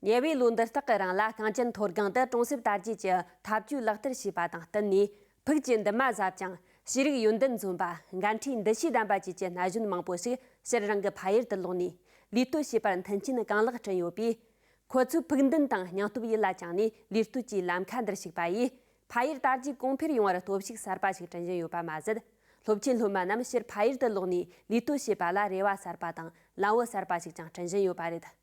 ཉེ་བའི་ལོ་འདི་དག་གི་རིང་ལ་གངས་ཅན་མཐོ་སྒང་དུ་གྲོང་གསེབ་དར་རྒྱས་ཀྱི་འཐབ་ཇུས་ལག་བསྟར་བྱས་པ་དང་བསྟུན་ནས་ཕུགས་ཀྱི་འདུན་མ་ཟབ་ཅིང་ཤེས་རིག་ཡོན་ཏན་འཛོམས་པ་འགན་འཁྲིའི་འདུ་ཤེས་ལྡན་པ་བཅས་ཀྱི་ན་གཞོན་མང་པོ་ཞིག་ཕྱིར་རང་གི་ཕ་ཡུལ་དུ་ལོག་ནས་ལུས་གཏོད་བྱེད་པར་མཐུན་རྐྱེན་གང་ལེགས་བསྐྲུན་ཡོད་པས། ཁོ་ཚོའི་ཕུགས་འདུན་དང་སྙིང་སྟོབས་ཡིད་ལ་བཅངས་ནས་ལུས་གཏོད་ཀྱི་ལམ་ཁ་འདིར་ཞུགས་པ་ཡིས་ཕ་ཡུལ་དར་རྒྱས་གོང་འཕེལ་ཡོང་བར་སྟོབས་ཤུགས་གསར་པ་ཞིག་སྐྲུན་བཞིན་ཡོད་པ་མ་ཟད། སློབ་ཆེན་སློབ་མ་རྣམས་ཕྱིར་ཕ་ཡུལ་དུ་ལོག་ནས་ལུས་གཏོད་བྱེད་པ་ལ་རེ་བ་གསར་པ་དང་ལམ་བུ་གསར་པ་ཞིག་ཀྱང་སྐྲུན་བཞིན་ཡོད་པ་རེད།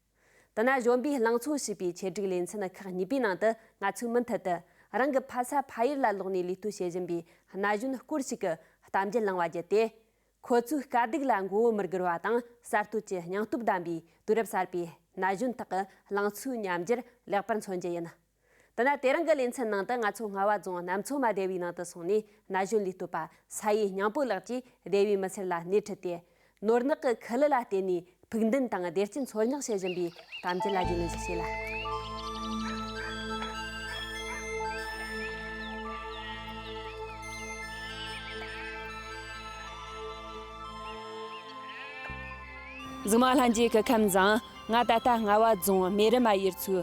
དུ་ན་གཞོན་པའི་ལང་ཚོ་ཞེས་པའི་ཆེད་སྒྲིག་ལེ་ཚན་ཁག་གཉིས་པའི་ནང་དུ་ང་ཚོས་མུ་མཐུད་དུ་རང་གི་ཕ་ས་ཕ་ཡུལ་ལ་ལོག་ནས་ལུས་གཏོད་བྱེད་བཞིན་པའི་ན་གཞོན་སྐོར་ཞིག་གི་གཏམ་རྒྱུད་བླངས་བ་བརྒྱུད་དེ། ཁོ་ཚོའི་དཀའ་སྡུག་ལ་མགོ་བོ་མི་སྒུར་བ་དང་གསར་གཏོད་ཀྱི་སྙིང་སྟོབས་ལྡན་པའི་དུས་རབས་གསར་པའི་ན་གཞོན་དག་གི་ལང་ཚོའི་ཉམས་འགྱུར་ལེགས་པར་མཚོན་རྒྱུ་ཡིན། འདི་ན་དེ་རིང་གི་ལེ་ཚན་ནང་དུ་ང་ཚོ་རྔ་བ་རྫོང་གནམ་མཚོ་མ་སྡེ་བའི་ནང་དུ་སོང་ནས་ན་གཞོན་ལས་གཏོད་པ་ས་ཡེ་སྙིང་པོ་ལགས་ཀྱིས་སྡེ་བའི་མི་སེར་ལ་སྣེ་ཁྲིད་དེ། ནོར་གནག་གི་ཁུ་ལུ་ལ་བརྟེན་ནས་ཕུགས་འདུན་དང་བདེ་སྐྱིད་འཚོལ་སྙེག་བྱེད་བཞིན་པའི་གཏམ་རྒྱུད་ལ་རྒྱུས་ལོན་ཞིག་བྱེད་ལ། གཟུགས་མ་ལྷན་རྒྱས་ཀྱི་ཁམས་བཟང། ང་ད་ལྟ་རྔ་བ་རྫོང་རྨེ་རི་མ་ཡུལ་ཚོའི་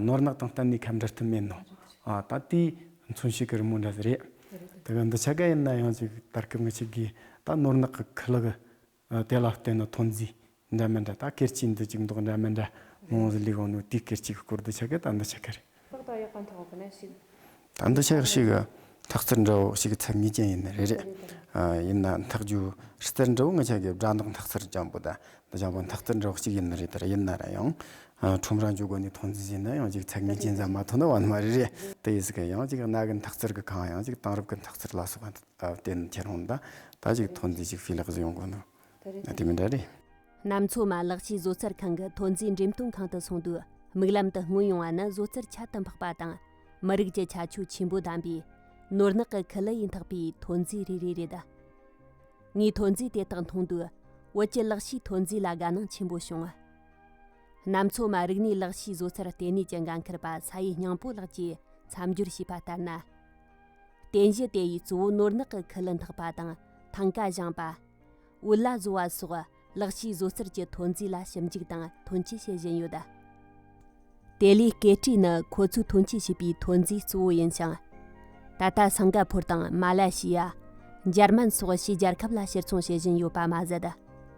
ནོར་གནག་དང་གཏན་ནས་ཁ་འབྲལ་ཐུབ་མིན་ནོ། ད་ལྟའི་མཚོན་ཤུགས་ཀྱི་རི་མོ་འདྲ་ཟེར། དེ་ག་འདི་ཆ་ག་ཡིན་ན་ཡང་ཅིག་ལྟར་སྐབས་ངེས་ཆགས་དགོས། ད་ནོར་གནག་གི་ཁུ་ལག་དེ་ལ་ལྟོས་ན་ཐོན་རྫས་འདྲ་མི་འདྲ་ད་སྐེར་ཆིག་འདི་ཅིག་མདོག་འདྲ་མི་འདྲ། མོང་གཟུགས་ལས་དབང་ནོ་དུས་སྐེར་ཆིག་གི་སྐོར་འདི་ཆ་ག་ད་འདི་ཆ་ག་རེད། ཏག་ཏག་ཡག་པ་འཐོག་དགོས་ན་ཞིག། ད་འདི་ཆགས་ཤིག་གི་འཐག་རྩལ་འདྲ་བོ་ཞིག་གི་ཚད་ངེས་ཅན་ཡིན་ནི་རེད། ཡིན་ན་འཐག་རྒྱུའི་རྩལ་འདྲ་བོ་ངེས་ཅན་གྱི་སྦྲ་འདག་འཐག་རྩལ་ལྗང་པོ་དང་འདི་ལྗང་པོའི་འཐག་རྩལ་འདྲ་བོ་གཅིག་ཡིན་ནི་རེད་དེར་ཡིན་ན་རང་ཡང་ཁྲོམ་ར་འཇུག་དགོས་ནི་ཐོག་འཛིན་བྱས་ན་ཡང་གཅིག་ཚད་ངེས་ཅན་ཙམ་མ་ཐོན་ན་བར་མ་རེད། དེ་ཡིས་གི་ཡང་གཅིག་གནའ་གི་འཐག་རྩལ་གྱི་ཁང་ཡང་གཅིག་དེང་རབས་ཀྱི་འཐག་རྩལ་ལ་སོགས་པ་བརྟེན་ནི་ཁྱེད་རང་ལ་ད་ཅིག་ཐོག་འཛིན་ཞིག་སྤུས་ལེགས་སུ་ཡོང་དགོས་འདུག། དེ་མི་འདྲ་རེད། གནམ་མཚོ་མ་ལག་ཆུའི་བཟོ་རྩལ་ཁང་གི་ཐོན་རྫས་འགྲེམས་སྟོན་ཁང་དུ་སོང་དུས་མིག་ལམ་དུ་མངོན་ཡོང་བ་ནི་བཟོ་རྩལ་ཁྱད་དུ་འཕགས་པ་དང་མི་རིགས་ཀྱི་ཁྱད་ཆོས་ཆེན་པོ་ལྡན་པའི་ནོར་གནག་གི་ཁི་ལི་ཡིས་འཐག་པའི་ཐོན་རྫས་རེ་རེ་རེད། ངས་ཐོན་རྫས་དེ་དག་མཐོང་དུས་བོད་ཀྱི་ལག་ཕྱིས་ཐོན་རྫས་ལ་དགའ་སྣང་ཆེན་པོ་བྱུང། གནམ་མཚོ་མ་རིག་གནས་ལག་ཕྱིས་བཟོ་རྩལ་ལྟེ་གནས་ཀྱི་འགན་འཁུར་པ་ས་ཡེ་སྙིང་པོ་ལགས་ཀྱིས་མཚམས་སྦྱོར་བྱས་པ་ལྟར་ན། རྟེན་གཞི་དེ་ཡི་གཙོ་བོ་ནོར་ནག་གི་ཁུ་ལུ་འཐག་པ་དང་ཐང་ཀ་བཞེངས་པ། དབུལ་ལ་བཟོ་བ་སོགས་ལག་ཕྱིས་བཟོ་རྩལ་གྱི་ཐོན་རྫས་ལ་ཞིབ་འཇུག་དང་ཐོན་སྐྱེད་བྱེད་བཞིན་ཡོད། དེ་ལས་སྐེ་དཀྲིས་ནི་ཁོ་ཚོས་ཐོན་སྐྱེད་བྱས་པའི་ཐོན་རྫས་གཙོ་བོ་ཡིན་ཞིང། ད་ལྟ་སིང་ག་ཕོར་དང་མ་ལ་ཤི་ཡ། འཇར་མན་སོགས་ཕྱིའི་རྒྱལ་ཁབ་ལ་ཕྱིར་འཚོང་བྱེད་བཞིན་ཡོད་པ་མ་ཟད།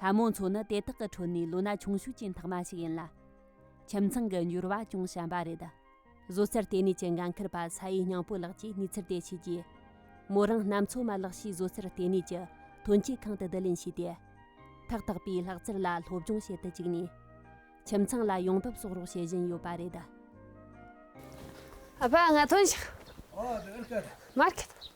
ལྷ་མོ་མཚོ་ནི་དེ་དག་གི་ཁྲོད་ནས་ལོ་ན་ཆུང་ཤོས་ཀྱི་འཐག་མ་ཞིག་ཡིན་ལ། ཁྱིམ་ཚང་གི་འབྱོར་བ་ཅུང་ཞན་པ་རེད། བཟོ་རྩལ་ལྟེ་གནས་ཀྱི་འགན་འཁུར་པ་ས་ཡེ་སྙིང་པོ་ལགས་ཀྱིས་ནུས་ཚུལ་འདེད་བྱས་རྗེས། མོ་རང་ནམ་མཚོ་མ་ལག་ཤེས་བཟོ་རྩལ་ལྟེ་གནས་ཀྱི་ཐོན་སྐྱེད་ཁང་དུ་བསྡུ་ལེན་བྱས་ཏེ། ཐག་བཏགས་པའི་ལྷག་རྩར་ལ་སློབ་སྦྱོང་བྱེད་དུ་བཅུག་ནས། ཁྱིམ་ཚང་ལ་ཡོང་འབབ་གསོག་རོགས་བྱེད་བཞིན་ཡོད་པ་རེད།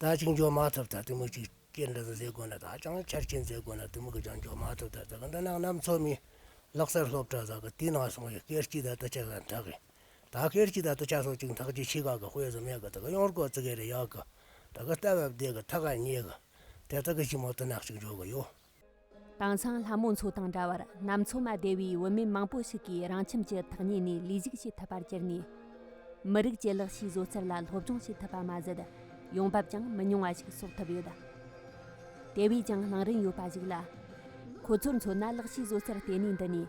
ད་ཅིག་འཇོག་མ་ཐུབ་ད་དུ་མུ་གཅིག་སྐྱེལ་འདྲ་ཟ་ཟེར་དགོས་ན་ད་ཅང་ཆར་སྐྱེལ་མཛད་དགོས་ན་དུ་མུ་གུ་ཅང་འཇོག་མ་ཐུབ་ད་ཟ་གི་འདི་ནང་ནམ་ཚོད་མིན། ལག་སར་སློབ་གྲྭ་ཟ་གི་དུས་ནང་སོང་བས་སྐེར་གཅིག་ད་དུ་ཆགས་ཟ་འདྲ་གི། ད་སྐེར་གཅིག་ད་དུ་ཆགས་སོང་ཅིག་མཐག་ཅིག་ཕྱི་ཁག་གི་དཔེ་སུ་མེད་གི་ད་གི་གཡོར་སྐོར་ཙི་གེ་རེ་གཡག་གི། ད་གི་རྟ་བབས་བསྡད་གི་ཐག་ཁ་ཉེ་གི། དེ་དག་གི་གཞི་མོ་དུ་ནག་ཅིག་འཇོག་གི་ཡོད། དེང་སང་ལྷ་མོ་མཚོ་དང་འདྲ་བར་གནམ་མཚོ་མ་བདེ་བའི་བུད་མེད་མང་པོ་ཞིག་གིས་རང་ཁྱིམ་གྱི་ཐག་ཉེ་ནས་ལས་ཞུགས་བྱེད་ཐུབ་པར་གྱུར་ནས། མི་རིགས་ཀྱི་ལག་ཤེས་བཟོ་རྩལ་ལ་སློབ་སྦྱོང་བྱེད་ཐུབ་པ་མ་ཟད། ཡོང་འབབ་ཀྱང་མི་ཉུང་བ་ཞིག་གསོག་ཐུབ་ཡོད། དེ་བས་ཀྱང་བླང་རིན་ཡོད་པ་ཞིག་ལ། ཁོ་ཚོར་མཚོན་ན་ལག་ཤེས་བཟོ་རྩལ་ལྟེ་གནས་འདི་ནས།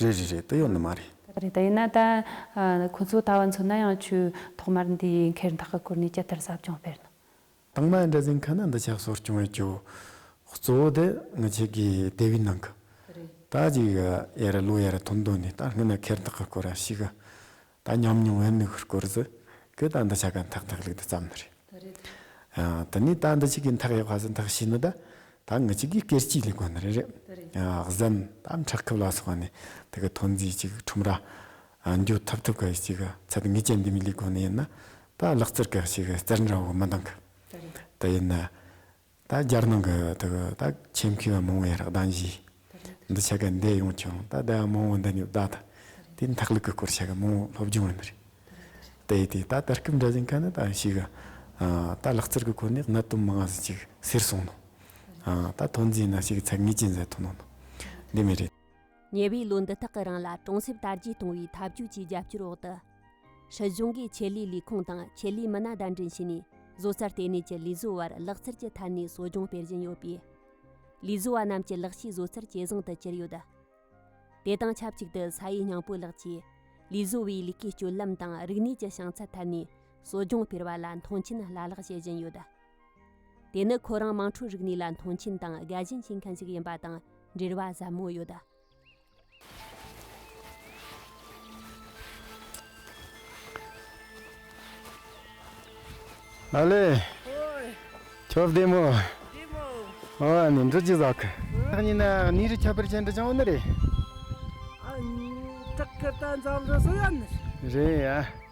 རེད་རེད་རེད་ད་ཡོད་ནི་མ་རེད། རེད་རེད་ད་ཡོད་ནི་ད། ཁོ་ཚོ་ལྟ་བ་མཚོན་ན་ཡང་ཆུ་ཐོག་མར་འདི་ཡི་འཁེར་འཐག་གི་སྐོར་ནས་ཇི་ལྟར་ཟབ་སྦྱོང་སྤེལ་ནོ། དང་མ་འདྲ་ཟིན་ཁ་ན་འདི་ཆགས་སོགས་བྱུང་བའི་ཆུ། གཙོ་བོ་དེ་ངི་ཆི་གི་སྡེ་བའི་ནང་གི། རེད། ད་ཅིག་ཡར་ལོ་ཡར་ཐུམ་བརྡོལ་ནས་ད་སྔོན་ན་འཁེར་འཐག་གི་སྐོར་ར་ཤི་གི། ད་ཉམས་མྱོང་བའི་མིག་ཧུར་སྐོར་ཟི། ཁྱོད་ད་འདི་ཆ་ག་འཐག་འཐག་ལུག་དེ་ཙམ་ནི་རེད། ད་རེད། དེ་ནས་ད་འདི་ཆི་གིས་འཐག་ཡག་བྷ་ཟི་འཐག་ཤི་ནི་ད། ད་ངི་ཆི་གིས་སྐེར་སྐྱིས་ལས་གོ་ནི་རེད། ད་རེད། གཟན། ད་འཁྲག་ཁུབ་ལ་སོགས་ནི་དེ་གི་ཐོན་རྫས་ཅི་གི་ཁྲོམ་ར། འགྱོ་ཐུབ་ཐུབ་གི་ཅི་གི་ཚད་ངི་ཅན་འདི་མི་ལས་གོ་ནི་ཡིན་ན། ད་ལག་རྩིར་གི་ཅི་གི་རྩིར་འདྲ་བོ་མི་འདང་གི། ད་རེད། དེ་ཡིན་ན། ད་རྒྱལ་ནང་གི་དུག་ད་ཁྱིམ་མཁས་པ་མང་བོ་ཡང་རག་གདང་བཞིས་འདི་ཆ་ག་འདེད་ཡོང་བྱུང་ད་བདེ་བ་མང་བོ་འདི་ཉོབ་བདག་ད་དུས་འཐག་ལུག་གི་སྐོར་ཆ་ག་མང་བོ་སློབ་སྦྱོང་ཡོད་རེད་དེ་ཡིན་དུས་ད་དར་སྐུབ་འདྲ་ཟིན་ག་ནི་ད་ཞིག་ག་ད་ལག་རྩལ་གི་སྐོར་ནི་གནད་དོན་མང་བ་ཟིན་ཅིག་ཟེར་སོང་ནོ་ད་ཐོན་རྫས་ན་ཞིག་ཚད་ངེས་ཅན་ཟེར་ཐོན་ནོ་འདི་མི་རེད། ཉེ་བའི་ལོ་འདི་དག་གི་རིང་ལ་གྲོང་གསེབ་དར་རྒྱས་གཏོང་བའི་འཐབ་ཇུས་ཀྱི་རྒྱབ་སྐྱོར་འོག་ཏུ། སྲིད་གཞུང་གིས་ཆེད་ལས་ལས་ཁུངས་དང་ཆེད་ལས་མི་སྣ་བདའ་འདྲེན་བྱས་ནས་བཟོ་རྩལ་ལྟེ་གནས་ཀྱི་ལས་བཟོ་བར་ལག་རྩལ་གྱི་ཐད་ནས་གསོ་སྦྱོང་སྤེལ་བཞིན་ཡོད་པས། ལས་བཟོ་བ་རྣམས་ཀྱི་ལག་ཤེས་བཟོ་རྩལ་ཇེ་བཟང་དུ་གྱུར་ཡོད། དེ་དང་ཆབས་ཅིག་ཏུ་ས་ཡེ་སྙིང་པོ་ལགས་ཀྱིས་ལས་བཟོ་བའི་ལས་ཀའི་སྤྱོད་ལམ་དང་རིག་གནས་ཀྱི་བྱང་ཚད་ཐད་ནས་གསོ་སྦྱོང་སྤེལ་བ་ལ་མཐོང་ཆེན་བླ་ལྷག་བྱེད་བཞིན་ཡོད། དེ་ནི་ཁོ་རང་དམངས་ཁྲོད་རིག་གནས་ལ་མཐོང་ཆེན་དང་དགའ་ཞེན་བྱེད་མཁན་ཞིག་ཡིན་པ་དང་འབྲེལ་བ་ཟབ་མོ་ཡོད། ཨ་ལེ། ཁྱོད་བདེ་མོ། ཨོ་ཨ་ནི་འབྲི་གཅིག་བཟའ་གི། ཐག་ཉེ་ན་ནི་རི་ཁྱབ་པར་བྱེད་འདི་ཅང་བོ་ནི་རེད། ཨ་ནི་བྲག་གི་རྟ་འཛག་འདི་སོ་ཡ་ནི་རེད། རེད་ཡ།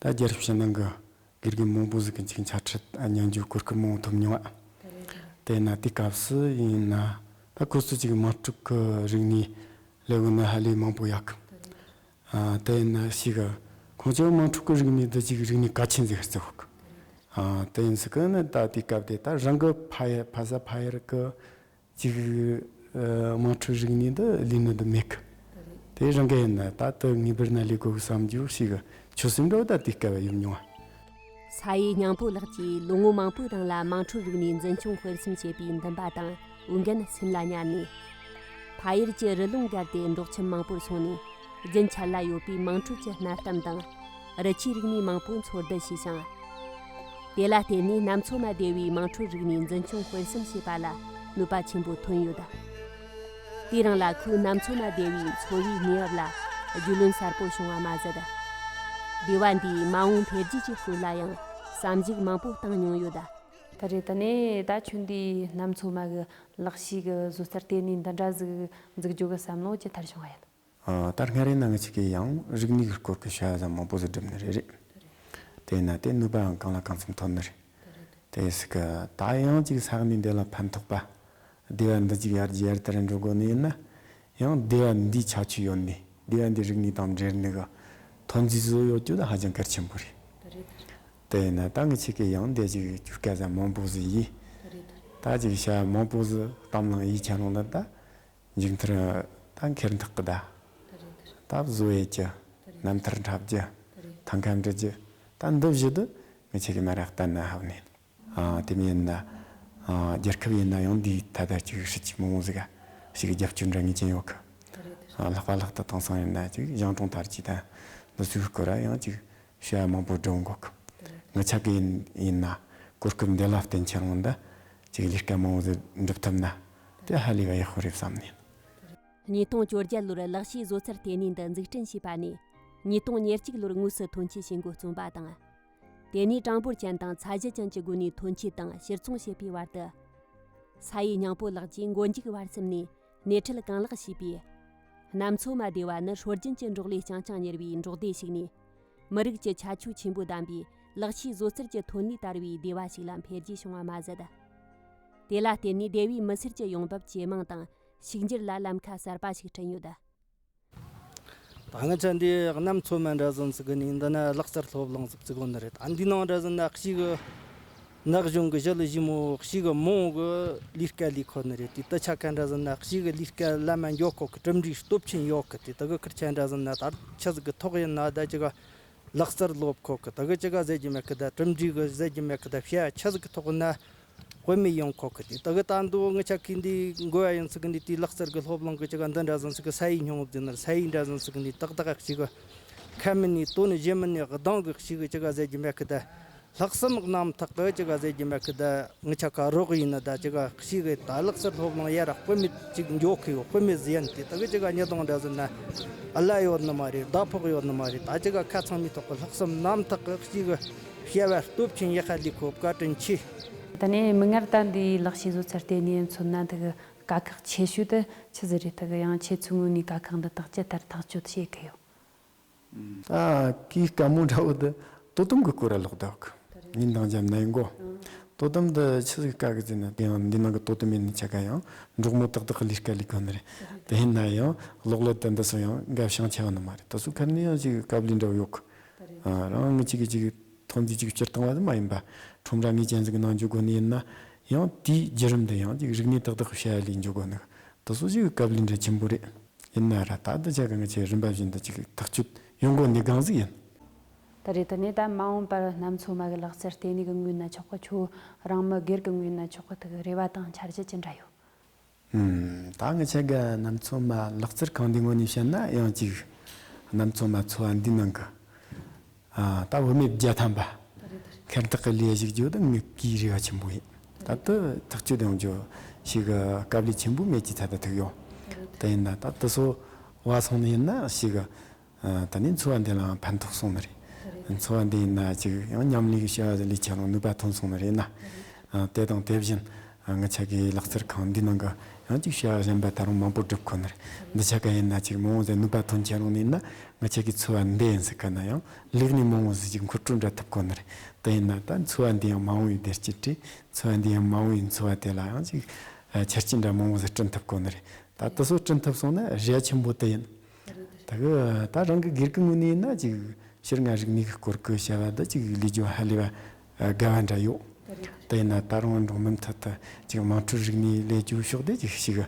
ད་རྒྱལ་རབས་ཕྱི་ནང་གི་དགེ་རྒན་མང་པོ་ཟིག་གི་འཇིགས་འཆར་ཁྲིད་སྙན་རྒྱུའི་གོ་སྐབས་མང་པོ་ཐོབ་མྱོང། དེས་ན་དེའི་སྐབས་སུ་ཡིན་ན་ད་ཁོ་ཚོ་ཅིག་དམག་འཁྲུག་གི་རིག་ནས་ལས་དགོས་ན་ཧ་ལས་མང་པོ་ཡག་གི། དེས་ན་ཞིག་ཁོང་ཚོའི་དམག་འཁྲུག་གི་རིག་ནས་འདི་ཅིག་རིག་ནས་ག་ཆེ་འཛིག་ཧ་ཙི་ཧོ་གི། དེ་ཡིན་ཟིག་གི་ནི་ད་དེའི་སྐབས་དེ་ད་རང་གི་ཕ་ཡ་ཕ་ས་ཕ་ཡར་གི། གཅིག། དམངས་ཁྲོད་རིག་གནས་འདི་ལས་ནི་འདི་མི་སྐབས། དེ་རང་གི་ཡིན། ད་དུ་ངེས་པར་ན་ལས་གོ་བསམ་རྒྱུ་ཞིག་ཆོད་སེམས་འགྲོ་ད་དུས་སྐལ་བ་ཡོད་མྱོང། ས་ཡེ་སྙིང་པོ་ལགས་ཀྱིས་ལོ་ངོ་མང་པོའི་རིང་ལ་དམངས་ཁྲོད་རིག་གནས་འཛིན་སྐྱོང་སྤེལ་གསུམ་བྱས་པའི་འདུན་པ་དང་འོས་འགན་སེམས་ལ་ཉར་ནས། ཕ་ཡུལ་གྱི་རི་ཀླུང་བརྒལ་ཏེ་འབྲོག་ཁྱིམ་མང་པོར་སོང་ནས་རྒྱུན་འཆར་ལ་ཡོད་པའི་དམངས་ཁྲོད་ཀྱི་གནའ་གཏམ་དང། རི་ཆུའི་རིག་གནས་མང་པོ་འཚོལ་བསྡུ་བྱས་ཤིང། དེ་ལ་བརྟེན་ནས་ནམ་ཚོད་མ་བདེ་བའི་དམངས་ཁྲོད་རིག་གནས་འཛིན་སྐྱོང་སྤེལ་གསུམ་བྱེད་པ་ལ་ནུས་པ་ཆེན་པོ་ཐོན་ཡོད། དེས་རང་ལ་ཁོའི་ནམ་ཚོད་མ་བདེ་བའི་འཚོ་བའི་གནས་བབ་ལ་རྒྱུས་ལོན་གསར་པོ་བྱུང་བ་མ་ཟད། སྡེ་བ་འདིའི་མ་འོངས་འཕེལ་རྒྱས་ཀྱི་སྐོར་ལ་ཡང་བསམ་གཞིགས་མང་པོ་བཏང་མྱོང་ཡོད། ད་རེས་ད་ནས་ད་ཁྱོད་འདིས་ནམ་ཚོད་མ་གི་ལག་ཤེས་ཀྱི་བཟོ་རྩར་བརྟེན་ནས་འདི་འདྲ་ཟིག་འཛུགས་རྒྱུ་གི་བསམ་བློ་ཇི་ལྟར་བྱུང་བ་ཡིན། ལྟར་སྔ་རེ་ན་ང་གཅིག་གིས་ཡང་རིག་ནུས་ཀྱི་སྐོར་གྱི་བྱ་བ་ཟབ་མོ་པོ་ཟུར་སྒྲིམ་ནི་རེད་རེད། དེས་ན་དེ་ནུས་པའང་གང་ལ་གང་འཚམ་ཐོན་ནི་རེད། དེ་སྲིད་ཀྱི་ད་ཡང་གཅིག་ས་གནས་འདི་ལ་ཕན་ཐོགས་པ། སྡེ་བ་འདི་གཅིག་ཡར་རྒྱས་ཡར་དར་འགྲོ་དགོས་ནི་ཡིན་ན། ཡང་སྡེ་བ་འདིའི་ཆ་ཆུ་ཡོད་ནི་སྡེ་བ་འདིའི་རིག་ནུས་དང་འབྲེལ་ནུས་ཀྱི་ཐོན་རྫས་བཟོས་ཡོད་རྒྱུ་ནི་ཧ་ཅང་གལ་ཆེན་པོ་རེད། དེས་ན་ད་ངས་ཁྱེད་ཀྱིས་ཡང་འདི་གཅིག་བསྐྱུར་སྐད་ཟབ་མོ་པོ་ཟིག་ཡིས། ད་གཅིག་བྱ་བ་མང་པོ་ཟིག་གཏམ་བླངས་ཡིག་ཆ་ནང་དུ་ད་མཇུག་མཐར་རྟ་འཁེལ་འཐག་གི་བརྡ། རྟ་བཟོ་བའི་སྐྱི། རྣམ་ཐར་འཁྲབ་རྒྱུ། ཐང་ཁ་འབྲི་རྒྱུ། རྟ་འདུལ་བཞི་དུ་མི་ཆོད་ཀི་མ་རེད་བལྟ་ན་ཧ་བུ་ནི། དེ་མིན་ཡིན་ན། རྒྱལ་ཁབ་ཡིན་ན་ཡང་འདིའི་ཐད་བརྡ་གཅིག་ཧྲིལ་གྱིས་མི་འོང་ཟིག་ག་ཞིག་རྒྱབ་སྐྱོར་འདྲ་ངེས་ཅན་ཡོད་གི། ལྷག་པ་ལྷག་ཏུ་དེང་སང་ཡིན་ན་ཅིག་གཞང་གྲོང་དར་གྱིས་དང་འདི་ཚོའི་སྐོར་ལ་ཡང་ཅིག་ཤོད་ཡ་མང་པོ་བསྒྲུབ་དགོས་གི། ངའི་ཆ་གི་ཡིན་ཡིན་ན་གོ་སྐབས་འདི་ལ་བརྟེན་ཁྱེད་རང་འདི་ཅིག་ལས་ཀ་མང་བོ་འགྲུབ་ཐུབ་ན་དེ་ཧ་ལས་པ་ཡག་པོ་རེད་བསམ་ནས། ཉིས་སྟོང་བཅོ་བརྒྱད་ལོར་ལག་ཤེས་བཟོ་རྩལ་ལྟེ་གནས་འདི་འཛུགས་སྐྲུན་བྱས་པ་ནས་ཉིས་སྟོང་ཉེར་གཅིག་ལོར་དངོས་སུ་ཐོན་སྐྱེད་བྱེད་འགོ་བརྩོམ་པ་དང། དེ་ནས་གྲངས་འབོར་ཅན་དང་ཚད་གཞི་ཅན་གྱི་སྒོ་ནས་ཐོན་སྐྱེད་དང་ཕྱིར་ཚོང་བྱེད་པའི་བར་དུ། ས་ཡི་ཉིང་པོ་ལགས་ཀྱིས་མགོ་མཇུག་བར་གསུམ་ནས་སྣེ་ཁྲིད་གང་ལེགས་བྱས་པས། གནམ་མཚོ་མ་སྡེ་བ་ནི་ཧྲོལ་རྒྱུན་གྱི་འབྲོག་ལས་རྐྱང་རྐྱང་གཉེར་བའི་འབྲོག་སྡེ་ཞིག་ནས། མི་རིགས་ཀྱི་ཁྱད་ཆོས་ཆེན་པོ་ལྡན་པའི་ལག་ཤེས་བཟོ་རྩལ་གྱི་ཐོན་ལས་དར་བའི་སྡེ་བ་ཞིག་ལ་འཕེལ་རྒྱས་བྱུང་བ་མ་ཟད། དེ་ལ་བརྟེན་ནས་སྡེ་བའི་མི་སེར་གྱི་ཡོང་འབབ་ཇེ་མང་དང་ཕྱུག་འགྱུར་ལ་ལམ་ཁ་གསར་པ་ཞིག་བསྐྲུན་ཡོད། ད་སྔ་ཆ་འདིའི་གནམ་མཚོ་མའི་འབྲས་ཟན་ཟེར་གི་ནི་འདི་ནི་གླག་རྩར་ལྷོ་བླངས་ཟུག་ཙི་གོ་འདི་རེད། འདིའི་ནང་འབྲས་ཟན་ནག་གཤིས་གི་ནག་གཞུང་གི་བཞི་ལ་བཞི་མོ་གཤིས་ཀྱི་མོ་འོག་གི་ལུས་སྐལ་ལས་ཁོ་ནི་རེད། དེ་ལྟར་ཆ་ཁའི་འབྲས་ཟན་ནག་གཤིས་གི་ལུས་སྐལ་བླ་མ་མགྱོགས་ཁོག་གི་གྲུབ་འབྲས་སྟོབས་ཆེན་ཡོད་གི་དེ་དག་གི་ཁུར་ཆའི་འབྲས་ཟན་ནི་ད་ཆ་ཟུག་གི་ཐོག་ཡིན་ན་ད་ཅི་ག་གླག་རྩར་ལོབས་ཁོག་གི་ད་གི་ཅི་ག་ཟེར་གྱི་མེད་གི་ད་གྲུབ་འབྲས་གི་ཟེར་གྱི་མེད་གི་ད་ཤའི་ཆ་ཟུག་གི་ཐོག་ཡིན་ན་བོད་མི་ཡོངས་ཁོག་གི་དེ་ལྟ་གི་ལྟ་འདོད་དངོས་ཆགས་ཀི་འདི་འགོ་ཡ་ཡིན་ཚུལ་གི་འདི་དུས་ལག་རྩལ་གི་སློབ་གླིང་གི་ཅི་ག་འདི་འདྲ་ཟིན་ཚུལ་གི་ས་ཡིག་ཉུང་ངུ་འདི་འདྲ་ས་ཡིག་འདྲ་ཟིན་ཚུལ་གི་འདི་ཏག་ཏག་གི་ཅི་ག་ཁ་མི་ནི་དོ་ནི་བཞིན་མི་ནི་གདངས་གི་ཞིག་གི་ཅི་ག་ཟེར་རྒྱུ་མེད་གི་དེ་ལྷག་བསམ་རྣམ་དག་གི་ཅི་ག་ཟེར་རྒྱུ་མེད་གི་དེ་དངོས་ཆ་ག་རོག་ཡིན་ནི་དེ་ཅི་ག་ཞིག་གི་དེ་ལག་རྩལ་སློབ་གླིང་ཡ་ར་བོད་མི་གཅིག་མགྱོགས་གི་ཡོད་བོད་མི་ཟི་ཡན་དེ་ལྟ་གི་ཅི་ག་ཉི་གདངས་འདྲ་ཟིན་ནི་ཨ་ལ་ཡོད་ནི་མ་རེད་ཟླ་ཕོགས་ཡོད་ནི་མ་རེད་དེ་ཅི་ག་ཁ་ཚང་མི་ཐོག་གི་ལྷག་བསམ་རྣམ་དག་གི་ཅི་ག། བཤད་པ་སྟོབས་ཆེན་ཡེ་ཤེས་ལས་ཁོ་བཀའ་དྲིན་ཆེ། ད་ནས་མིག་སྔར་ད་འདི་ལག་ཤེས་བཟོ་ཚར་དེ་ནས་མཚོན་ན་འདི་གི་དཀའ་ཁག་ཆེ་ཤོས་དེ་ཆི་ཟི་རེད་ད་གི་ཡང་ཁྱེད་ཚོའི་ངོས་ནས་དཀའ་ཁག་འདི་དག་ཅི་ལྟར་ཐག་གཅོད་བྱེད་གི་ཡོད། ཨ་ཀིའི་བཀའ་མོལ་འདྲ་བོ་འདི་དོ་དམ་གི་སྐོར་ར་ལོག་ལྡོག་གི་ཉིན་དང་འཇམ་ནའི་མགོ། དོ་དམ་འདི་ཆི་ཟི་གི་བཀའ་གི་རྫས་ནི་དེ་ཡང་འདི་ནང་གི་དོ་དམ་ཡིན་ནི་ཆ་ག་ཡང་འབྲོག་མོ་ཏག་ཏག་གི་ལས་ཀ་ལས་དགོས་ནི་རེད་དེ་ཡིན་ན་ཡང་ལོག་ལོ་དེ་འདི་སོང་ཡང་འགབ་ཤང་ཆེ་བ་ནི་མ་རེད་ད་སུ་ཁབ་ནི་ཡང་ཅིག་གབ་ལུས་འདྲ་བོ་ཡོད་གི། རང་དབང་གཅིག་གིས་གཅིག་གི་ཐོག་མཐུན་གཅིག་སྤྱིར་བཏང་བ་དེ་མ་ཡིན་པ། ཁྲོམ་ར་ངེས་ཅན་ཞིག་གི་ནང་འཇུག་དགོས་ནི་ཡིན་ན་ཡང་དེའི་བརྒྱུད་རིམ་དུ་ཡང་གཅིག་རིག་གནས་ཏག་ཏག་གི་བྱ་ཡ་ལས་འཇུག་དགོས་ནི་དེ་སོ་ཞིག་གི་སྐབས་ལས་འབྲས་ཆེན་པོ་རེད། ཡིན་ན་ར་ད་ལྟ་ཆ་གང་གི་ཆེད་རིམ་པ་བཞིན་དུ་གཅིག་གི་ཐག་གཅོད་ཡོང་དགོས་ནི་གང་ཟིག་ཡིན། ད་རེས་དེ་ནས་ད་མ་འོངས་པར་གནམ་མཚོ་མ་གི་ལག་རྩལ་ལྟེ་གནས་ཀྱི་ངོས་ན་ཆོག་གི་ཆོག་རང་མི་སྒེར་གྱི་ངོས་ན་ཆོག་གི་ཐུག་གི་རེ་བ་དང་འཆར་གཞི་ཅི་འདྲ་ཡོད། ད་ང་ཆེ་གེ་ནམ་ཚོད་མ་ལག་རྩེར་གང་འདི་ངོ་ནས་བཤད་ན་ཡང་ཅིག་ནམ་ཚོད་མ་འཚོ་བ་འདི་ནང་གི་ད་བུད་མེད་བརྒྱ་ཐམ་པ་ཁེར་འཐག་གི་ལས་ཞིག་བརྗོད་ད་ངུ་གིའི་རེ་བ་ཆེན་པོ་ཡིན་ད་དུ་ཐག་གཅོད་ཡང་བརྗོད་ཞིག་གི་སྐབས་ལས་ཆེན་པོ་མེད་ཀྱི་ཚད་ད་ཐུག་ཡོད་དེ་ཡིན་ན་ད་དུ་སོ་བ་སོང་ནས་ཡིན་ན་ཞིག་གི་ད་ནི་འཚོ་བ་འདི་ལའང་ཕན་ཐོགས་སོང་ནི་རེད། འཚོ་བ་འདི་ཡིན་ན་ཅིག་ཡང་མཉམ་ལས་ཀྱི་བྱ་བ་ལས་ཆ་ལང་ནུས་པ་ཐོན་སོང་ནི་རེད་ན། དེ་དང་དེ་བཞིན་ང་ཆ་གའི་ལག་རྩལ་ཁང་འདིའི་ནང་གི་ཡང་ཅིག་བྱ་བ་གཞན་པ་ད་རུང་མང་པོ་བསྒྲུབ་དགོས་ནི་རེད། འདི་ཆ་ག་ཡིན་ན་ཅིག་མོ་འོང་ཟེར་ནུས་པ་ཐོན་ཆ་ལང་ནི་ཡིན་ན་ང་ཆ་གའི་འཚོ་བ་འདི་ཡིན་ཟེར་ག་ན་ཡང་ལེགས་ནས་མོ་འོང་ཟེར་ཅིག་འཁོར་སྤྲོད་འདྲ་ཐུབ་དགོས་ནི་རེད། དེ་ཡིན་ན་ད་འཚོ་བ་འདི་ཡང་མ་འོང་བའི་བདེ་སྐྱིད་བྲིས། འཚོ་བ་འདི་ཡང་མ་འོང་བའི་འཚོ་བ་དེ་ལ་ཡང་ཅིག་ཆར་སྐྱིད་འདྲ་མོ་འོང་ཟེར་བསྐྲུན་ཐུབ་དགོས་ནི་རེད། ད་དེ་སོགས་བསྐྲུན་ཐུབ་སོང་ན་གཞས་ཆེན་པོ་དེ་ཡིན། ད་གི་ད་རང་གི་སྒེར་གི་ངོས་ནས་ན་ཅིག་ཕྱིར་ང་རིག་མིག་སྐོར་གི་བྱ་བ་འདི་ཅིག་ལས་ཇོ་ཧ་ལས་པ་དགའ་བ་འདྲ་ཡོད། དེ་ཡིན་ན་ད་རང་འབྲོག་མི་མཐུད་དུ་ཅིག་དམངས་ཁྲོད་རིག་གནས་ལས་ཇོ་ཕྱོགས་བསྡུས་ཅིག་ཞིག་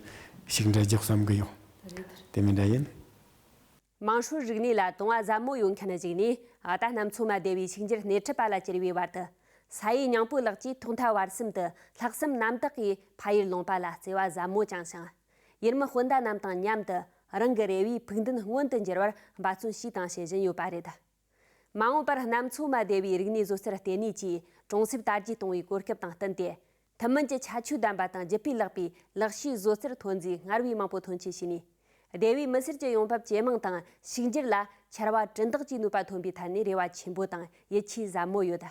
ཞིག་འདྲ་རྒྱག་བསམ་གི་ཡོད། དེ་མིན་འདྲ་ཡིན། དམངས་ཁྲོད་རིག་གནས་ལ་དུང་བ་ཟབ་མོ་ཡོད་མཁན་ཞིག་ནས་ད་ལྟ་ནམ་འཚོ་མ་བདེ་བའི་ཕྱུག་འགྱུར་སྣེ་ཁྲིད་པ་ལ་གྱུར་བའི་བར་དུ། ས་ཡི་ཉིང་པོ་ལགས་ཀྱིས་ཐོག་མཐའ་བར་གསུམ་དུ་ལྷག་བསམ་རྣམ་དག་གིས་ཕ་ཡུལ་ལུང་པ་ལ་བརྩེ་བ་ཟབ་མོ་བཅངས་ཤིང། ཡུལ་མི་སྤུན་ཟླ་རྣམས་དང་མཉམ་དུ་རང་གི་རེ་བའི་ཕུགས་འདུན་མངོན་དུ་འགྱུར་བར་འབད་བརྩོན་བྱས་དང་བྱེད་བཞིན་ཡོད་པ་རེད། མ་འོངས་པར་གནམ་མཚོ་མ་སྡེ་བའི་རིག་གནས་བཟོ་རྩལ་ལྟེ་གནས་ཀྱིས་གྲོང་གསེབ་དར་རྒྱས་གཏོང་བའི་གོ་སྐབས་དང་བསྟུན་ཏེ། ཐུན་མིན་གྱི་ཁྱད་ཆོས་ལྡན་པ་དང་ལྗིད་པས་བརླག་པའི་ལག་ཤེས་བཟོ་རྩལ་ཐོན་རྫས་སྔར་བས་མང་པོ་ཐོན་སྐྱེད་བྱས་ནས། སྡེ་བའི་མི་སེར་གྱི་ཡོང་འབབ་ཇེ་མང་དང་ཕྱུག་འགྱུར་ལ་ཕྱར་བ་གྲུ་འདེགས་ཀྱི་ནུས་པ་ཐོན་པའི་ཐད་ནས་རེ་བ་ཆེན་པོ་དང་ཡིད་ཆེས་ཟབ་མོ་ཡོད།